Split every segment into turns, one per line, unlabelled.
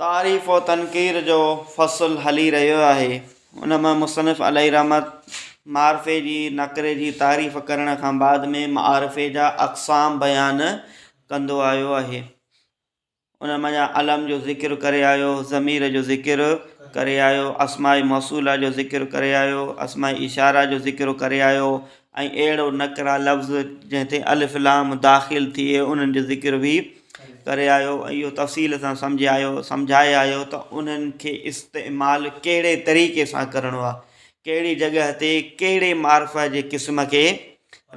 تعريف و تنقير جو فصل هلي رهيو آهي ان مان مصنف عليه رحمت معرفي جي نڪري جي تعريف ڪرڻ کان بعد ۾ معارفي جا اقسام بيان ڪندو آيو آهي ان مان علم جو ذڪر ڪري آيو ضمير جو ذڪر ڪري آيو اسماء موصولا جو ذڪر ڪري آيو اسماء اشارا جو ذڪر ڪري آيو ۽ اهڙو نڪرا لفظ جنهن تي الف لام داخل ٿئي انهن جو ذڪر بي ڪري آيو ۽ اهو تفصيل سان سمجهي آيو سمجهائي آيو ته انهن کي استعمال ڪهڙي طريقي سان ڪرڻو آهي ڪهڙي جڳهه تي ڪهڙي معرف جي قسم کي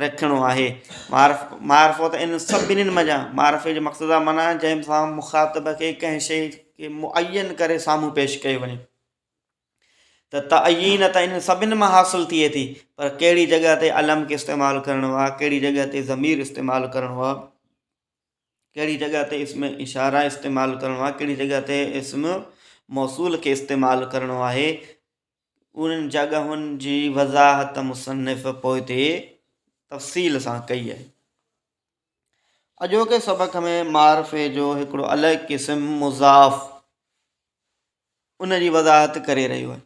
رکڻو آهي معرف معرفو ته ان سڀني منجهان معرفي جو مقصد آهي معنيٰ جنهن سان مخاطب کي ڪنهن شيء کي معين ڪري سامهون پيش ڪيو وڃي ته تعين ته ان سڀني مان حاصل ٿئي ٿي پر ڪهڙي جڳهه تي علم کي استعمال ڪرڻو آهي ڪهڙي جڳهه تي ضمير استعمال ڪرڻو آهي ڪهڙي جڳهه تي اسم اشاره استعمال ڪرڻو آهي ڪهڙي جڳهه تي اسم موصول کي استعمال ڪرڻو آهي انهن جڳهن جي وضاحت مصنف پوئتي تفصيل سان ڪئي آهي اڄوڪي سبق ۾ معرفي جو هڪڙو الڳ قسم مضاف ان جي وضاحت ڪري رهيو آهي.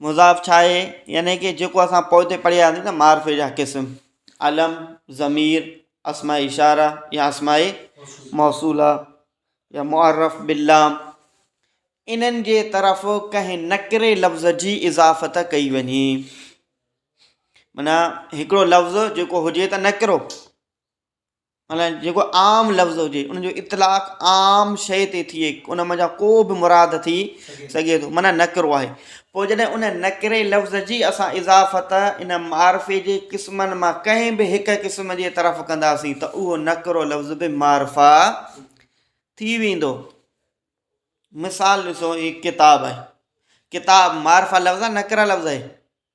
مضاف ڇا آهي؟ يعني ڪه جيڪو اسان پوئتي پڙهياسين ته معرفي جا قسم علم، ضمير، اسماء اشاره يا اسماء موصوله يا معرف باللام انهن جي طرف ڪنهن نڪري لفظ جي اضافت ڪئي وڃي معنيٰ هڪڙو لفظ جيڪو هجي ته نڪرو معنيٰ جيڪو عام لفظ هجي ان جو اطلاق عام شيء تي ٿئي ان منجهان ڪو به مراد ٿي سگهي ٿو معنيٰ نڪرو آهي پوء جڏهن ان نڪري لفظ جي اسان اضافت ان معرفي جي قسمن مان ڪنهن به هڪ قسم جي طرف ڪنداسين ته اهو نڪرو لفظ به معرفا ٿي ويندو مثال ڏسو هي ڪتاب آهي ڪتاب معرفا لفظ نڪرا لفظ آهي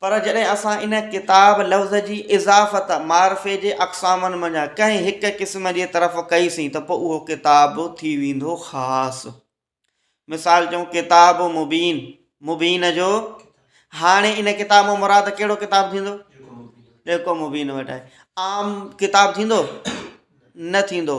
پر جڏهن اسان ان ڪتاب لفظ جي اضافت معرفي جي اقسامن منجهان ڪنهن هڪ قسم جي طرف ڪئيسين ته پوء اهو ڪتاب به ٿي ويندو خاص. مثال چئون ڪتاب مبين، مبين جو هاڻي ان ڪتاب مان مراد ڪهڙو ڪتاب ٿيندو؟ جيڪو مبين وٽ آهي. عام ڪتاب ٿيندو؟ نه ٿيندو.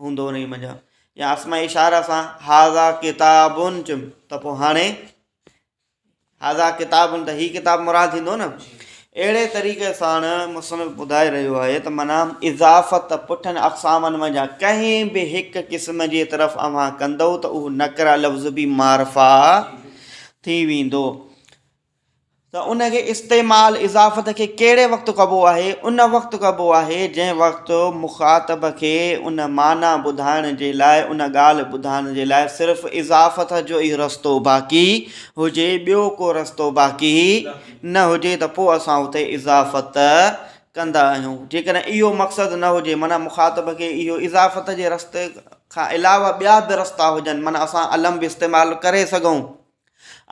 هوندو انهي منجهان يا آسمائي اشاره سان هذا ڪتاب چم ته پوء هاڻي هذا ڪتاب ته هي ڪتاب مراد ٿيندو نه اهڙي طريقي سان مصنف ٻڌائي رهيو آهي ته منا اضافت پٺن اقسامن منجھان ڪنهن به هڪ قسم جي طرف اوهان ڪندو ته اهو نڪرا لفظ به معرفا ٿي ويندو ته ان کي استعمال اضافت کي ڪهڙي وقت ڪبو آهي؟ ان وقت ڪبو آهي جنهن وقت مخاطب کي ان معنيٰ ٻڌائڻ جي لاء ان ڳالهه ٻڌائڻ جي لاء صرف اضافت جو ئي رستو باقي هجي ٻيو ڪو رستو باقي نه هجي ته پوء اسان اتي اضافت ڪندا آهيون جيڪڏهن اهو مقصد نه هجي معنيٰ مخاطب کي اهو اضافت جي رستي کان علاوه ٻيا به رستا هجن معنيٰ اسان الم به استعمال ڪري سگهون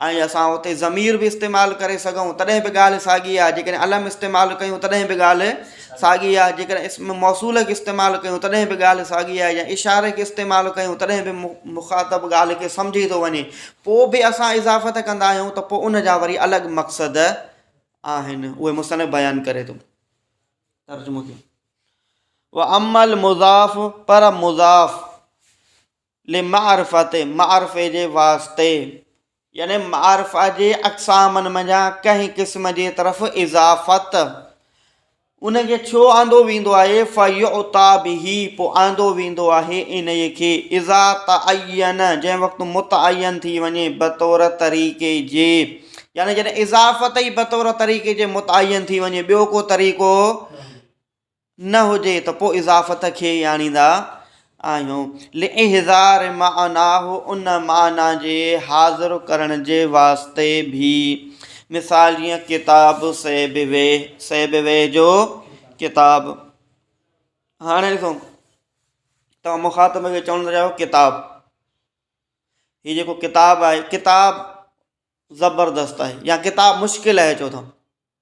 ۽ اسان اتي ضمير به استعمال ڪري سگهون تڏهن به ڳالهه ساڳي آهي جيڪڏهن علم استعمال ڪيون تڏهن به ڳالهه ساڳي آهي جيڪڏهن اسم موصول کي استعمال ڪيون تڏهن به ڳالهه ساڳي آهي يا اشاري کي استعمال ڪيون تڏهن به مخاطب ڳالهه کي سمجهي ٿو وڃي پوء به اسان اضافت ڪندا آهيون ته پوء ان جا وري الڳ مقصد آهن اهي مصنف بيان ڪري ٿو ترجمو ڪيو و امل مضاف پر مضاف لمعرفت، معرفي جي واسطي، يعني معرفه جي اقسامن منجهان ڪنهن قسم جي طرف اضافت، ان کي ڇو آندو ويندو آهي، فيعطيٰ به، پوء آندو ويندو آهي انهيء کي، اذا تعين، جنهن وقت متعين ٿي وڃي، بطور طريقي جي، يعني جڏهن اضافت ئي بطور طريقي جي متعين ٿي وڃي، ٻيو ڪو طريقو نه هجي ته پوء اضافت کي ئي آڻيندا آهيون. لاحضار معناه ان معنيٰ جي حاضر ڪرڻ جي واسطي به. مثال جيئن ڪتاب سيبويه، سيبويه جو ڪتاب. هاڻي ڏسو توهان مخاطب کي چوڻ ٿا چاهيو ڪتاب. هي جيڪو ڪتاب آهي ڪتاب زبردست آهي يا ڪتاب مشڪل آهي چئو ٿا.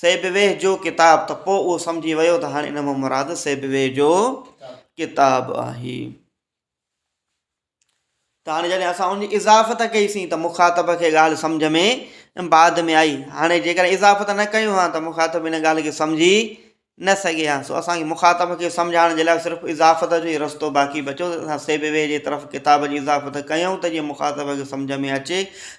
سيبويه جو ڪتاب ته پوء اهو سمجهي ويو ته هاڻي ان مان مراد سيبويه جو ڪتاب آهي ته هاڻي جڏهن اسان ان جي اضافت ڪئيسين ته مخاطب کي ڳالهه سمجھ ۾ بعد ۾ آئي هاڻي جيڪڏهن اضافت نه ڪيون ها ته مخاطب ان ڳالهه کي سمجهي نه سگهي ها سو اسانکي مخاطب کي سمجهائڻ جي لاء صرف اضافت جو ئي رستو باقي بچو اسان سيبويه جي طرف ڪتاب جي اضافت ڪيون ته جيئن مخاطب کي سمجھ ۾ اچي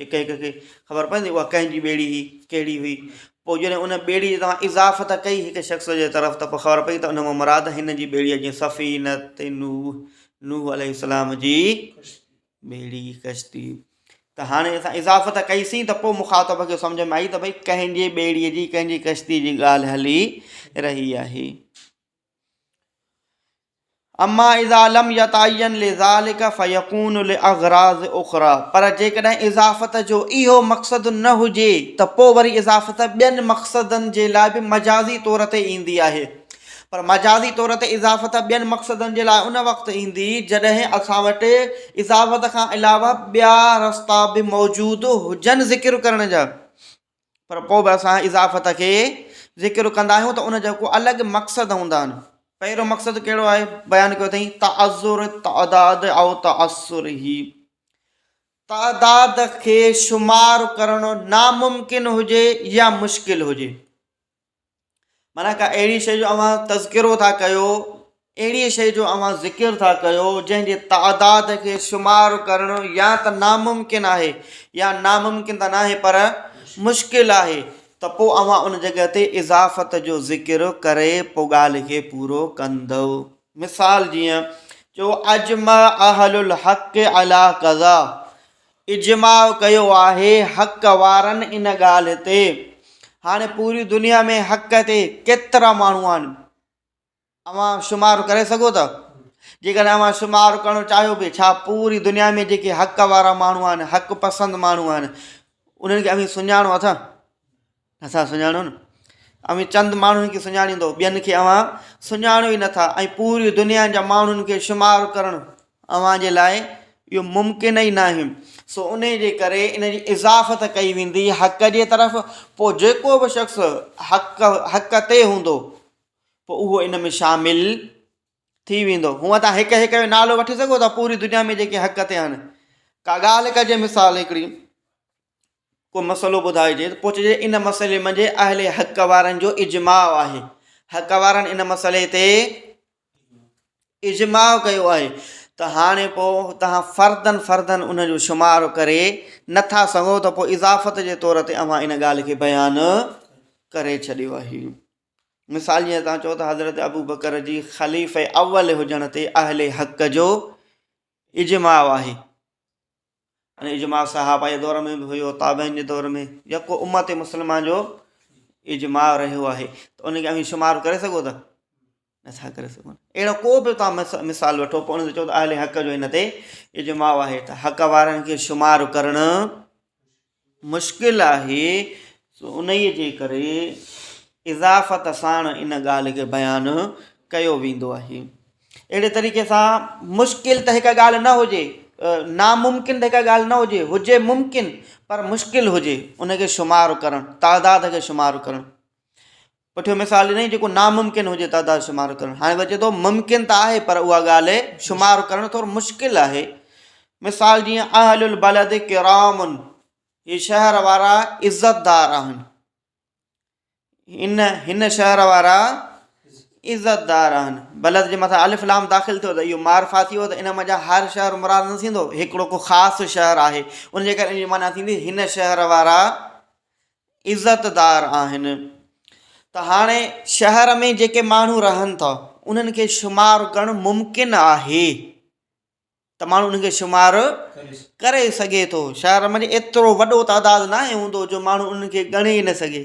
هڪ هڪ کي خبر پوندي اها ڪنهن جي ٻيڙي هئي، ڪهڙي هئي. پوء جڏهن ان ٻيڙي جي توهان اضافت ڪئي هڪ شخص جي طرف ته پوء خبر پئي ته ان مان مراد هن جي ٻيڙي جيئن سفينه نوح، نوح عليه السلام جي ٻيڙي، ڪشتي. ته هاڻي اسان اضافت ڪئي سين ته پوء مخاطب کي سمجهه ۾ آئي ته ڀئي ڪنهن جي ٻيڙي جي، ڪنهن جي ڪشتي جي ڳالهه هلي رهي آهي. اما اذا لم يتعين لذلك فيكون لاغراض اخرى پر جيڪڏهن اضافت جو اهو مقصد نه هجي ته پوء وري اضافت ٻين مقصدن جي لاء به مجازي طور تي ايندي آهي پر مجازي طور تي اضافت ٻين مقصدن جي لاء ان وقت ايندي جڏهن اسان وٽ اضافت کان علاوه ٻيا رستا به موجود هجن ذڪر ڪرڻ جا پر پوء به اسان اضافت کي ذڪر ڪندا آهيون ته ان جو ڪو الڳ مقصد هوندا آهن. پهريون مقصد ڪهڙو آهي؟ بيان ڪيو اٿئين تعذر تعداد او تعثره، تعداد کي شمار ڪرڻ ناممڪن هجي يا مشڪل هجي. معنيٰ ڪا اهڙي شيء جو اوهان تذڪرو ٿا ڪيو اهڙيء شيء جو اوهان ذڪر ٿا ڪيو جنهن جي تعداد کي شمار ڪرڻ يا ته ناممڪن آهي يا ناممڪن ته ناهي پر مشڪل آهي ته پوء اوهان ان جڳهه تي اضافت جو ذڪر ڪري پوء ڳالهه کي پورو ڪندؤ مثال جيئن چئو اجمع اهل الحق عليٰ ڪذا اجماع ڪيو آهي حق وارن ان ڳالهه تي هاڻي پوري دنيا ۾ حق تي ڪيترا ماڻهو آهن اوهان شمار ڪري سگهو ٿا جيڪڏهن اوهان شمار ڪرڻ چاهيو به ڇا پوري دنيا ۾ جيڪي حق وارا ماڻهو آهن حق پسند ماڻهو آهن انهن کي اوهين سڃاڻو اٿا اسان سڃاڻو نه اوهين چند ماڻهن کي سڃاڻيندو ٻين کي اوهان سڃاڻو ئي نٿا ۽ پوري دنيا جا ماڻهن کي شمار ڪرڻ اوهان جي لاء اهو ممڪن ئي ناهي سو انهي جي ڪري ان جي اضافت ڪئي ويندي حق جي طرف پوء جيڪو به شخص حق حق تي هوندو پوء اهو ان ۾ شامل ٿي ويندو هونء تان هڪ هڪ جو نالو وٺي سگهو ٿا پوري دنيا ۾ جيڪي حق تي آهن ڪا ڳالهه ڪجي مثال هڪڙي ڪو مسئلو ٻڌائجي ته پوء چئجي ان مسئلي منجهه اهل حق وارن جو اجماع آهي حق وارن ان مسئلي تي اجماع ڪيو آهي ته هاڻي پوء توهان فردن فردن ان جو شمار ڪري نٿا سگهو ته پوء اضافت جي طور تي اوهان ان ڳالهه کي بيان ڪري ڇڏيو آهي مثال جيئن تان چئو ته حضرت ابو بڪر جي خليفي اول هجڻ تي اهل حق جو اجماع آهي ۽ اجماع صحابه جي دور ۾ به هيو تابعين جي دور ۾ يڪو امت مسلمه جو اجماع رهيو آهي ته ان کي اوهين شمار ڪري سگهو ٿا نٿا ڪري سگهو اهڙو ڪو به تان مثال وٺو پوء ان تي چئو ته اهل حق جو هن تي اجماع آهي ته حق وارن کي شمار ڪرڻ مشڪل آهي، سو انهيء جي ڪري اضافت ساڻ ان ڳالهه کي بيان ڪيو ويندو آهي. اهڙي طريقي سان مشڪل ته هڪ ڳالهه نه هجي، ناممڪن ته هڪ ڳالهه نه هجي، هجي ممڪن پر مشڪل هجي، ان کي شمار ڪرڻ، تعداد کي شمار ڪرڻ. پٺيون مثال ڏنائين جيڪو ناممڪن هجي تعداد شمار ڪرڻ هاڻي وچي ٿو ممڪن ته آهي پر اها ڳالهه شمار ڪرڻ ٿورو مشڪل آهي مثال جيئن اهل البلد ڪرام هي شهر وارا عزت دار آهن ان هن شهر وارا عزت دار آهن بلد جي مٿان الف لام داخل ٿيو ته اهو معرفا ٿي ويو ته ان مزا هر شهر مراد نه ٿيندو هڪڙو ڪو خاص شهر آهي ان جي ڪري ان جي معنيٰ ٿيندي هن شهر وارا عزتدار آهن ته هاڻي شهر ۾ جيڪي ماڻهو رهن ٿا انهن کي شمار ڪرڻ ممڪن آهي ته ماڻهو انهن کي شمار ڪري سگهي ٿو شهر ۾ ايترو وڏو تعداد ناهي هوندو جو ماڻهو انهن کي ڳڻي نه سگهي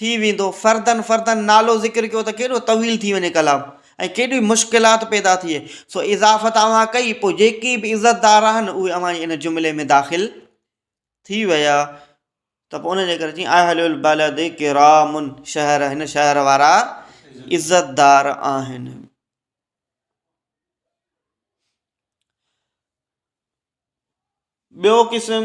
ٿي ويندو فردن فردن نالو ذڪر ڪيو ته ڪيڏو طويل ٿي وڃي ڪلام ۽ ڪيڏي مشڪلات پيدا ٿئي سو اضافت اوهان ڪئي پوء جيڪي به عزتدار آهن اهي اوهان جي ان جملي ۾ داخل ٿي ويا ته پوء ان جي ڪري چي اهل البلد ڪرام شهر هن شهر وارا عزتدار آهن ٻيو قسم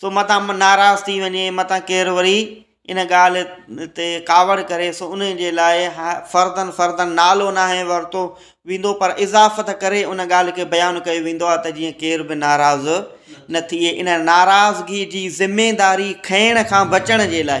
سو متان ناراض ٿي وڃي، متان ڪير وري ان ڳالهه تي ڪاوڙ ڪري، سو ان جي لاء فردن فردن نالو ناهي ورتو ويندو پر اضافت ڪري ان ڳالهه کي بيان ڪيو ويندو آهي ته جيئن ڪير به ناراض نه ٿئي. ان ناراضگي جي ذميداري کڻڻ کان بچڻ جي لاء.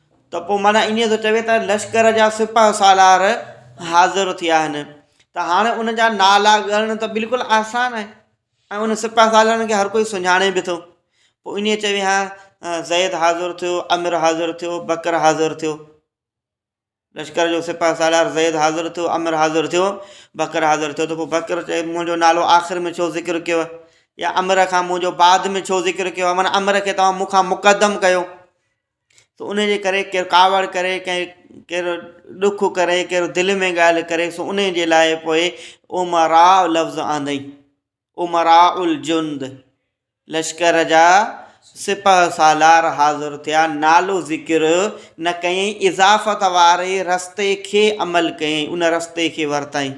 ته پوء معنيٰ انهيء جو چوي ته لشڪر جا سپهه سالار حاضر ٿيا آهن ته هاڻي ان جا نالا ڳڻڻ ته بلڪل آسان آهي ۽ ان سپهه سالارن کي هر ڪوئي سڃاڻي به ٿو. پوء انهيء چوي ها زيد حاضر ٿيو، عمر حاضر ٿيو، بڪر حاضر ٿيو. لشڪر جو سپهه سالار زيد حاضر ٿيو، عمر حاضر ٿيو، بڪر حاضر ٿيو ته پوء بڪر چوي منهنجو نالو آخر ۾ ڇو ذڪر ڪيو يا عمر کان منهنجو بعد ۾ ڇو ذڪر ڪيو معنيٰ عمر کي توهان مون کان مقدم ڪيو. سو ان جي ڪري ڪير ڪاوڙ ڪري ڪنهن ڪير ڏک ڪري ڪير دل ۾ ڳالهه ڪري سو ان جي لاء پوء امراء لفظ آندئي امراء الجند لشڪر جا سپه سالار حاضر ٿيا نالو ذڪر نه ڪيائين اضافت واري رستي کي عمل ڪيائين ان رستي کي ورتائين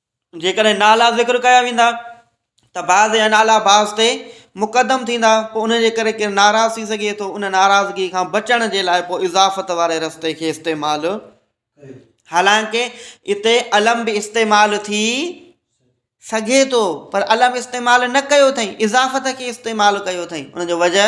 جيڪڏهن نالا ذڪر ڪيا ويندا ته بعض جا نالا بعض تي مقدم ٿيندا پوء ان جي ڪري ڪير ناراض ٿي سگهي ٿو ان ناراضگي کان بچڻ جي لاء پوء اضافت واري رستي کي استعمال حالانڪه اتي علم به استعمال ٿي سگهي ٿو پر علم استعمال نه ڪيو اٿئي اضافت کي استعمال ڪيو اٿئي ان جو وجه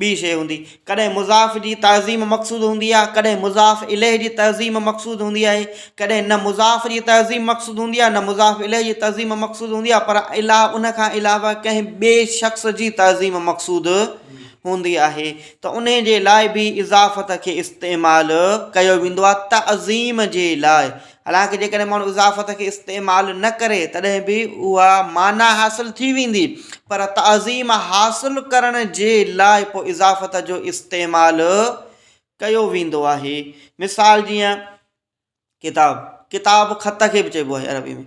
ٻي شيء هوندي. ڪڏهن مضاف جي تعظيم مقصود هوندي آهي، ڪڏهن مضاف اليه جي تعظيم مقصود هوندي آهي. ڪڏهن نه مضاف جي تعظيم مقصود هوندي آهي نه مضاف اليه جي تعظيم مقصود هوندي آهي پر الا ان کان علاوه ڪنهن ٻئي شخص جي تعظيم مقصود هوندي آهي ته انهي جي لاء به اضافت کي استعمال ڪيو ويندو آهي تعظيم جي لاء حالانڪ جيڪڏهن ماڻهو اضافت کي استعمال نه ڪري تڏهن به اها معنيٰ حاصل ٿي ويندي پر تعظيم حاصل ڪرڻ جي لاء پوء اضافت جو استعمال ڪيو ويندو آهي مثال جيئن ڪتاب ڪتاب خط کي به چئبو آهي عربي ۾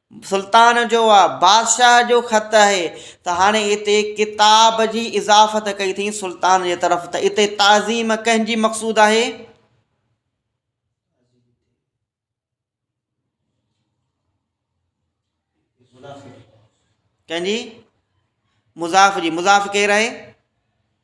سلطان جو آ، بادشاهه جو خط آهي، ته هاڻي اتي ڪتاب جي اضافت ڪئي اٿئين سلطان جي طرف، ته اتي تعظيم ڪنهن جي مقصود آهي؟ ڪنهن جي؟ مضاف جي، مضاف ڪير آهي؟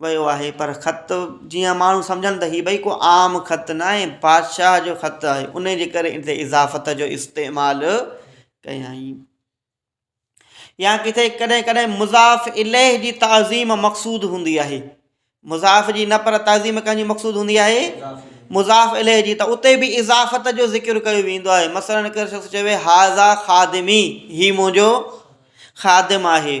ويو آهي پر خط جيان ماڻهو سمجهن ته هي ڀئي ڪو عام خط ناهي بادشاهه جو خط آهي انهي جي ڪري ان تي اضافت جو استعمال ڪيائين يا ڪٿي ڪڏهن ڪڏهن مضاف اليه جي تعظيم مقصود هوندي آهي مضاف جي نه پر تعظيم ڪنهن جي مقصود هوندي آهي مضاف اليه جي ته اتي به اضافت جو ذڪر ڪيو ويندو آهي مثلاً ڪهڙو شخص چوي هاضا خادمي هي منهنجو خادم آهي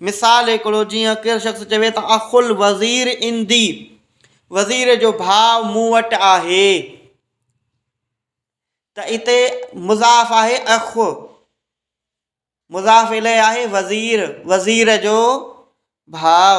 مثال هڪڙو جيئن ڪير شخص چوي ته اخ الوزير عندي، وزير جو ڀاء مون وٽ آهي، ته اتي مضاف آهي اخ، مضاف اليه آهي وزير، وزير جو ڀاء.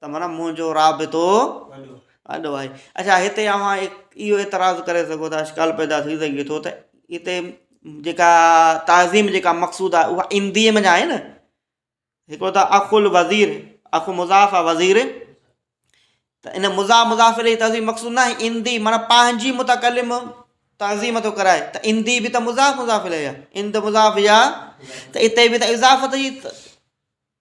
ته معنيٰ منهنجو رابطو وڏو آهي. اڇا هتي اوهان اهو اعتراض ڪري سگهو ٿا اشڪال پيدا ٿي سگهي ٿو ته هتي جيڪا تعظيم جيڪا مقصود آهي اها هنديء ۾ ناهي نه هڪڙو ته اخ الوزير اخ مضاف آهي وزير ته ان مضاف مضاف الیه جي تعظيم مقصود ناهي هندي معنيٰ پنهنجي متڪلم تعظيم ٿو ڪرائي ته هندي به ته مضاف مضاف الیه آهي هند مضاف يا ته هتي به ته اضافت جي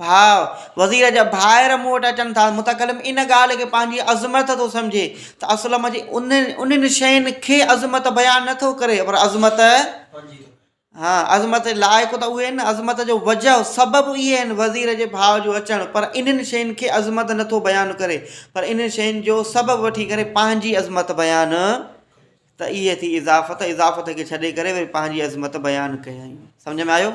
ڀاء، وزير جا ڀائر مون وٽ اچن ٿا. متڪلم ان ڳالهه کي پنهنجي عظمت ٿو سمجهي ته اسلم جي انهن شين کي عظمت بيان نه ٿو ڪري پر عظمت ها عظمت جي لائق ته اهي آهن عظمت جو وجهه سبب اهي آهن وزير جي ڀاء جو اچڻ پر انهن شين کي عظمت نه ٿو بيان ڪري پر انهن شين جو سبب وٺي ڪري پنهنجي عظمت بيان ته اهي ٿي اضافت اضافت کي ڇڏي ڪري وري پنهنجي عظمت بيان ڪيائين سمجهه ۾ آيو.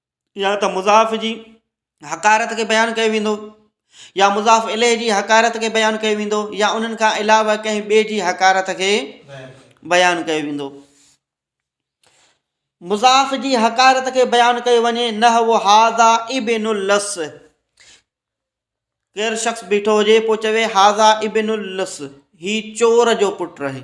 يا ته مضاف جي حقارت کي بيان ڪيو ويندو يا مضاف اليه جي حقارت کي بيان ڪيو ويندو يا انهن کان علاوه ڪنهن ٻئي جي حقارت کي بيان ڪيو ويندو مضاف جي حقارت کي بيان ڪيو وڃي نه هو هاضا ابن الس ڪير شخص بيٺو هجي پوء چوي هاضا ابن الس هي چور جو پٽ رهي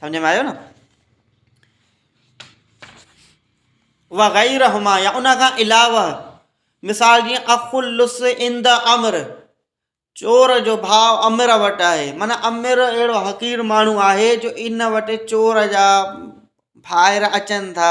سمجهه ۾ آيو نه وغيرهما يا ان کان علاوه مثال جيئن اخلص عند امر چور جو ڀاء امر وٽ آهي مانا امر اهڙو حقير ماڻهو آهي جو ان وٽ چور جا ڀائر اچن ٿا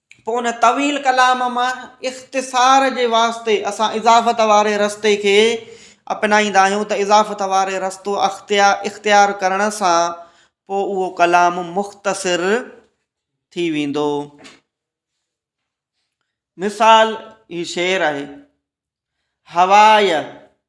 پوء ان طويل ڪلام مان اختصار جي واسطي اسان اضافت واري رستي کي اپنائيندا آهيون ته اضافت واري رستو اختيار ڪرڻ سان پوء اهو ڪلام مختصر ٿي ويندو. مثال هي شعر آهي. هواء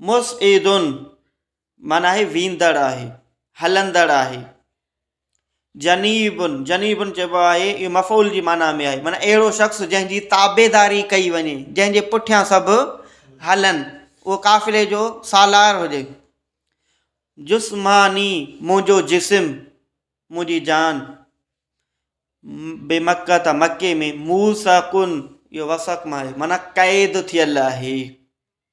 مصعدن معنيٰ آهي ويندڙ آهي، هلندڙ آهي. جنيبن، جنيبن چئبو آهي اهو مفعول جي معنيٰ ۾ آهي معنيٰ اهڙو شخص جنهن جي تابعداري ڪئي وڃي، جنهن جي پٺيان سڀ هلن، اهو قافلي جو سالار هجي. جسماني، منهنجو جسم، منهنجي جان. بمڪة، مڪي ۾. موثقن، اهو وثق مان آهي معنيٰ قيد ٿيل آهي.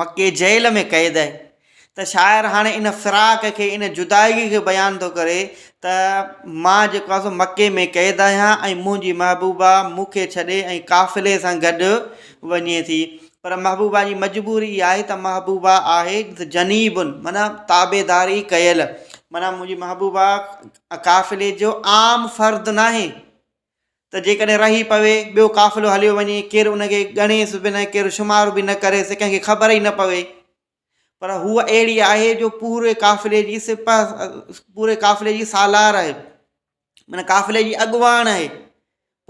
مڪي جيل ۾ قيد آهي ته شاعر هاڻي ان فراق کي ان جدائي کي بيان ٿو ڪري ته مان جيڪو آسان مڪي ۾ قيد آهيان ۽ منهنجي محبوبا مون کي ڇڏي ۽ قافلي سان گڏ وڃي ٿي پر محبوبا جي مجبوري اها آهي ته محبوبا آهي جنيبن معنيٰ تابعداري ڪيل معنيٰ منهنجي محبوبا قافلي جو عام فرد ناهي ته جيڪڏهن رهي پوي، ٻيو قافلو هليو وڃي، ڪير ان کي ڳڻيس به نه، ڪير شمار به نه ڪريس، ڪنهن کي خبر ئي نه پوي. پر هوء اهڙي آهي جو پوري قافلي جي سپهه، پوري قافلي جي سالار آهي. معنيٰ قافلي جي اڳواڻ آهي.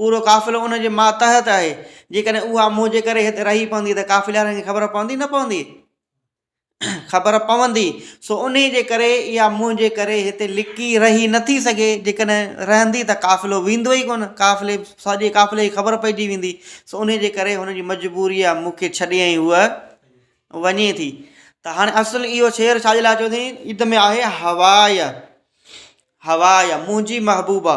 پورو قافلو ان جي ماتحت آهي. جيڪڏهن اها منهنجي ڪري هت رهي پوندي ته قافلي وارن کي خبر پوندي، نه پوندي؟ خبر پوندي سو انهي جي ڪري اها منهنجي ڪري هتي لڪي رهي نٿي سگهي جيڪڏهن رهندي ته قافلو ويندو ئي ڪونه قافلي سڄي قافلي جي خبر پئجي ويندي سو انهي جي ڪري هن جي مجبوري آ مونکي ڇڏي ۽ هوء وڃي ٿي ته هاڻي اصل اهو شعر ڇاجي لاء چيو اٿئين عيد ۾ آهي هواء هواء منهنجي محبوبا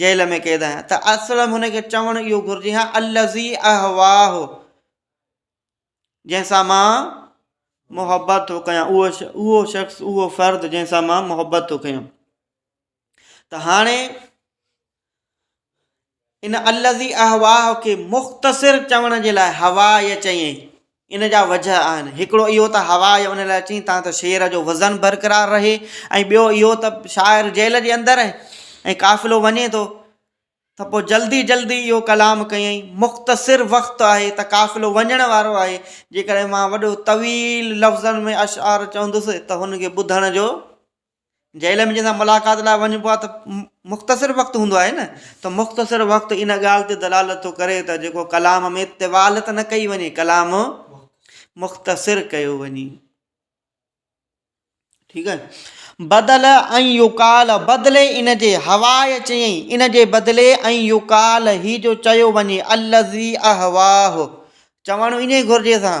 جيل ۾ قيد آهيان ته اسلم هن کي چوڻ اهو گهرجي ها الذي اهواه جنهن سان مان محبت ٿو ڪيان اهو اهو شخص اهو فرد جنهن سان مان محبت ٿو ڪيان ته هاڻي ان الذي اهواه کي مختصر چوڻ جي لاء هوا يه چيائين. ان جا وجه آهن. هڪڙو اهو ته هوا يه ان لاء چيائين تان ته شعر جو وزن برقرار رهي ۽ ٻيو اهو ته شاعر جيل جي اندر ۽ قافلو وڃي ٿو ته پوء جلدي جلدي اهو ڪلام ڪيائين. مختصر وقت آهي ته قافلو وڃڻ وارو آهي. جيڪڏهن مان وڏو طويل لفظن ۾ اشعار چوندس ته هن کي ٻڌڻ جو. جيل ۾ جنهن سان ملاقات لاء وڃبو آهي ته مختصر وقت هوندو آهي نه ته مختصر وقت ان ڳالهه تي دلالت ٿو ڪري ته جيڪو ڪلام ۾ طوال ته نه ڪئي وڃي ڪلام مختصر ڪيو وڃي ٺيڪ آهي بدل ۽ يوڪال بدلي ان جي هوا چيائين ان جي بدلي ۽ يوڪال هي جو چيو وڃي الزي اهواه چوڻ ائين گهرجي سان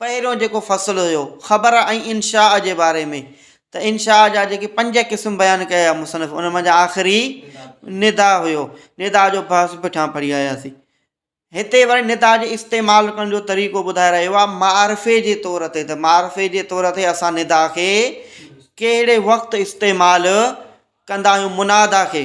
پهريون جيڪو فصل هيو خبر ۽ انشاء جي باري ۾ ته انشاء جا جيڪي پنج قسم بيان ڪيا مصنف ان منجهان آخري ندا هيو ندا جو بحث پٺيان پڙهي آياسين هتي وري ندا جي استعمال ڪرڻ جو طريقو ٻڌائي رهيو آهي معرفي جي طور تي ته معرفي جي طور تي اسان ندا کي ڪهڙي وقت استعمال ڪندا آهيون منادا کي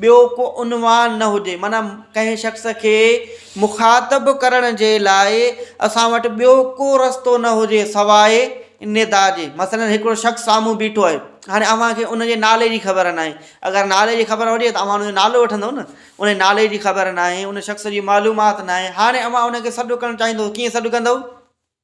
ٻيو ڪو عنوان نه هجي معنيٰ ڪنهن شخص کي مخاطب ڪرڻ جي لاء اسان وٽ ٻيو ڪو رستو نه هجي سواء ندا جي مثلاً هڪڙو شخص سامهون بيٺو آهي هاڻي اوهان کي ان جي نالي جي خبر ناهي اگر نالي جي خبر هجي ته اوهان ان جو نالو وٺندو نه ان جي نالي جي خبر ناهي ان شخص جي معلومات ناهي هاڻي اوهان ان کي سڏ ڪرڻ چاهيندو ڪيئن سڏ ڪندو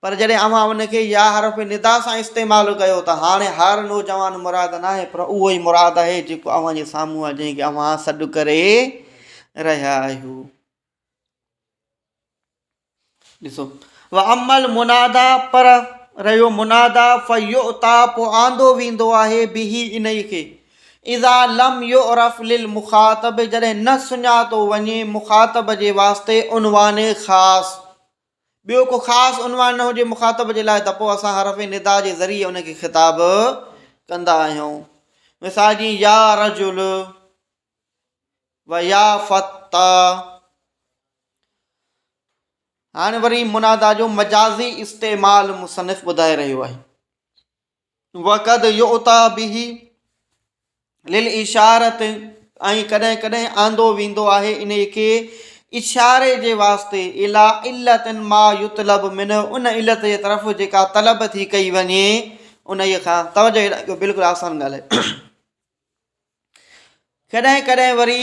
پر جڏهن اوهان ان کي يا حرف ندا سان استعمال ڪيو ته هاڻي هر نوجوان مراد ناهي پر اهو ئي مراد آهي جيڪو اوهان جي سامهون آهي جنهن کي اوهان سڏ ڪري رهيا آهيو ڏسو واما المنادا پر رهيو منادا فيؤتا پوء آندو ويندو آهي بهي ان ئي کي اذا لم يعرف للمخاطب جڏهن نه سڃاتو وڃي مخاطب جي واسطي عنوان خاص ٻيو ڪو خاص عنوان نه هجي مخاطب جي لاء ته پوء اسان حرف ندا جي ذريعي ان کي خطاب ڪندا آهيون. مثال جيئن يا رجل و يا فتى. هاڻي وري منادا جو مجازي استعمال مصنف ٻڌائي رهيو آهي. وقد يؤتي به للاشارة ۽ ڪڏهن ڪڏهن آندو ويندو آهي انهي کي اشاري جي واسطي اليٰ علت ما يطلب منه ان علت جي طرف جيڪا طلب ٿي ڪئي وڃي انهي کان توجه هيڏانهن ڪيو بلڪل آسان ڳالهه آهي ڪڏهن ڪڏهن وري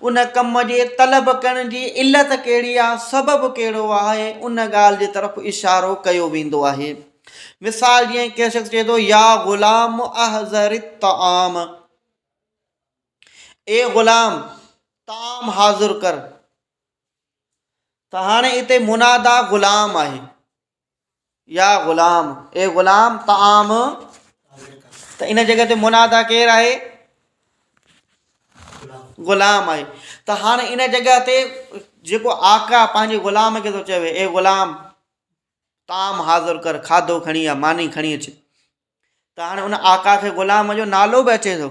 ان ڪم جي طلب ڪرڻ جي علت ڪهڙي آهي، سبب ڪهڙو آهي، ان ڳالهه جي طرف اشارو ڪيو ويندو آهي. مثال جيئن ڪنهن شخص چئي ٿو، يا غلام احضر الطعام، اي غلام طعام حاضر ڪر، ته هاڻي اتي منادا غلام آهي، يا غلام، اي غلام طعام ته ان جڳهه تي منادا ڪير آهي؟ غلام آهي ته هاڻي ان جڳهه تي جيڪو آقا پنهنجي غلام کي ٿو چوي اي غلام طعام حاضر ڪر کاڌو کڻي آ ماني کڻي اچ ته هاڻي ان آقا کي غلام جو نالو به اچي ٿو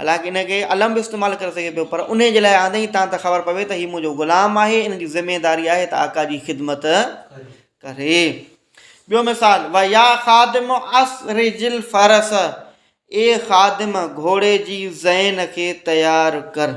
حالانڪ ان کي علم به استعمال ڪري سگهي پيو پر انهي جي لاء آندين ئي تان ته خبر پوي ته هي منهنجو غلام آهي ان جي ذميداري آهي ته آقا جي خدمت ڪري. ٻيو مثال، و يا خادم اسرج الفرس، اي خادم گهوڙي جي زين کي تيار ڪر.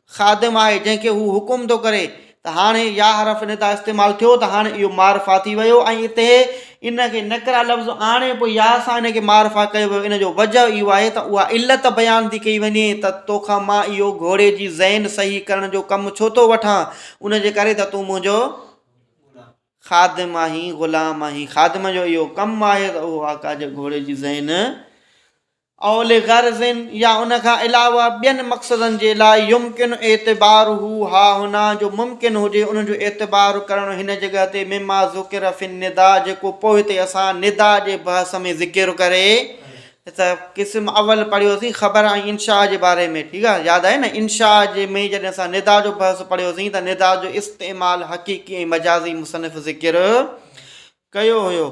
خادم آهي جنهن کي هو حڪم ٿو ڪري ته هاڻي يا حرف ندا استعمال ٿيو ته هاڻي اهو معرفا ٿي ويو ۽ اتي ان کي نڪرا لفظ آڻي پوء يا سان ان کي معرفا ڪيو ويو ان جو وجه اهو آهي ته اها علت بيان ٿي ڪئي وڃي ته توکان مان اهو گهوڙي جي ذهن صحيح ڪرڻ جو ڪم ڇو ٿو وٺان ان جي ڪري ته تون منهنجو خادم آهين غلام آهين خادم جو اهو ڪم آهي ته اهو آقا جي گهوڙي جي ذهن او لغرض يا ان کان علاوه ٻين مقصدن جي لاء يمڪن اعتباره هاهنا جو ممڪن هجي ان جو اعتبار ڪرڻ هن جڳهه تي مما ذڪر في النداء جيڪو پوء تي اسان نداء جي بحث ۾ ذڪر ڪري ته قسم اول پڙهيوسين خبر ۽ انشاء جي باري ۾ ٺيڪ آهي ياد آهي نه انشاء جي ۾ جڏهن اسان ندا جو بحث پڙهيوسين ته ندا جو استعمال حقيقي ۽ مجازي مصنف ذڪر ڪيو هيو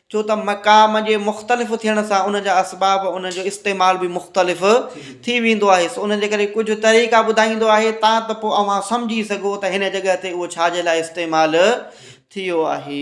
ڇو ته مقام جي مختلف ٿيڻ سان ان جا اسباب ان جو استعمال به مختلف ٿي ويندو آهي سو ان جي ڪري ڪجهه طريقا ٻڌائيندو آهي تا ته پوء اوهان سمجهي سگهو ته هن جڳهه تي اهو ڇا جي لاء استعمال ٿيو آهي